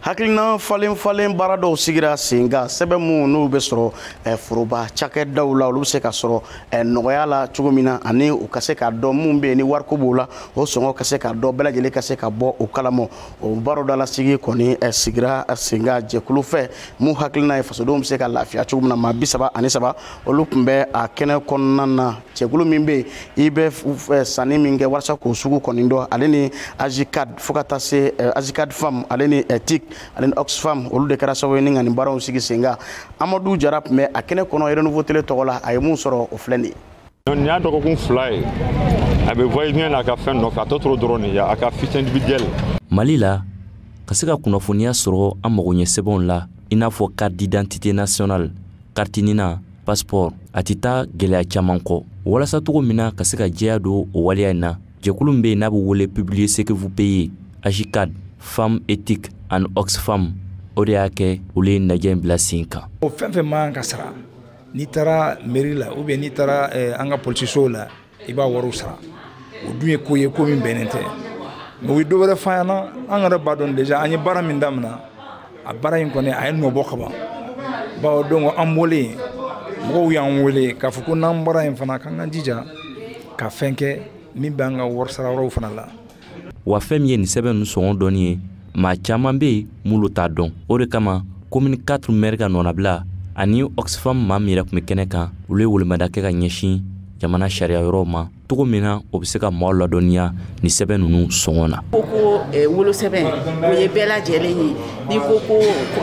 hakilina falen falen baara dɔw sigira sen kan sɛbɛn minnu n'olu bɛ sɔrɔ eh, foroba cakɛdaw la olu bɛ se ka sɔrɔ eh, nɔgɔya la cogo min na ani u ka se ka dɔn minnu bɛ yen ni wariko b'o la o sɔngɔ ka se ka dɔn bɛɛ lajɛlen ka se ka bɔ o kalama o baro dalasigi kɔni eh, sigira sen kan jɛkulu fɛ min hakilina ye fasodenw bɛ se ka lafiya cogo min na maa bi saba ani saba olu tun bɛ a kɛnɛ kɔnɔna na jɛkulu min bɛ yen i bɛ sanni min kɛ walasa k'o sugu kɔni dɔn ale ni ajcad fo ka taa se ajcad femme ale ni tic ale ni oxfam olu de kɛra sababu ye ni ka nin baaraw sigi sen kan amadu jara tun bɛ a kɛnɛ kɔnɔ renouveau tele tɔgɔ la a ye min sɔrɔ o filɛ nin ye nin y'a dɔgɔkun fila ye a bɛ voyage n'a ka fɛn nɔfɛ a tɔ tora dɔrɔn de ye a ka fiche individuelle mali la ka se ka kunnafoniya sɔrɔ an mago ɲɛ sɛbɛnw la i n'a fɔ carte d'identité nationale carte nina passeport a tɛ taa gɛlɛya caman kɔ walasa cogo min na ka se ka jɛya don o waleya in na jɛkulu min bɛ yen n'a bɛ wele publiez ce que vous payez ajcad femmes et tic ani oxfam o de y'a kɛ olu ye najɛ in bila sen kan o fɛn fɛn man kan ka sara n'i taara mɛri la ou bien n'i taara eh, an ka polisisow la i b'a wariw sara o dun ye ko ye ko min bɛnnen tɛ mɛ u ye dɔ wɛrɛ fa ɲɛna an yɛrɛ b'a dɔn déjà an ye baara min damina a baara in kɔni a ye nɔ bɔ ka ban bawo donc an bɔlen mɔgɔw y'an wele k'a fɔ ko n'an bɔra yen fana k'an ka jija ka fɛn kɛ min b'an ka wari sara yɔrɔw fana la wa fɛn min ye nin sɛbɛn ninnu sɔngɔ dɔnni ye maa caman bɛ yen minnu t'a dɔn o de kama komini 4 mɛri ka nɔnabila ani oxfam maa min yɛrɛ tun bɛ kɛnɛ kan olu ye welemada kɛ ka ɲɛsin jamana sariya yɔrɔw ma cogo min na o bɛ se ka maaw ladɔnniya nin sɛbɛn ninnu sɔngɔ na ko ko eh, wolosɛbɛn o ye bɛɛ lajɛlen ye n'i ko ko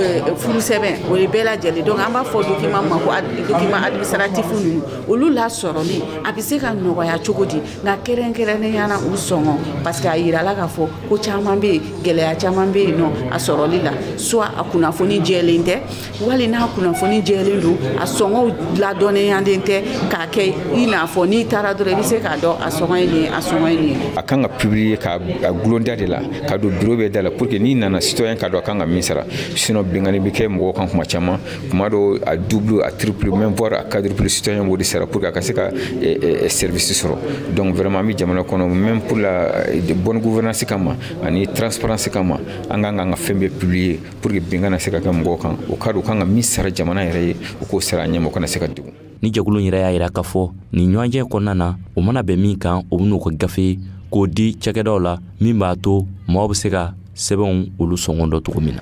eh, furusɛbɛn o ye bɛɛ lajɛlen donc an b'a fɔ u ma ko dokiman administratif ninnu olu lasɔrɔli a bɛ se ka nɔgɔya cogo di nka kɛrɛnkɛrɛnnenya na u sɔngɔ parce que a yirala k'a fɔ ko caman bɛ yen gɛlɛya caman bɛ yen nɔ a sɔrɔli la soit a kunnafoni jɛlen tɛ wali n'a kunnafoni jɛlen don a sɔngɔw ladɔnniyalen tɛ k'a kɛ i n'a fɔ n'i taara dɔrɔn i bɛ se k'a dɔn a sɔngɔ ye nin ye a sɔngɔ ye nin ye. a kan ka publier k'a gulon da de la k'a don bureau bɛɛ da la pour que n'i nana citoyen k'a dɔn a kan ka min sara sinon binkanni bɛ kɛ mɔgɔw kan tuma caman. tuma dɔw a double a triple même voir a quadruple citoyen b'o de sara pour que a ka se ka eh, eh, eh, service sɔrɔ donc vraiment an bɛ jamana kɔnɔ même pour la bonne gouvernance kama ani transparence kama an kan k'an ka fɛn bɛɛ publier pour que bin kana se ka kɛ mɔgɔw kan o k'a dɔn a kan ka min sara jamana yɛrɛ ye o k'o sara a ɲɛma o kana se ka degun ni jɛkulu in yɛrɛ y'a yira k'a fɔ nin ɲɔgɔnye kɔnɔna na o mana bɛn min kan o bɛn'o kɛ gafe ye k'o di cakɛdaw la min b'a to maaw bɛ se ka sɛbɛnw olu sɔngɔ dɔn cogo min na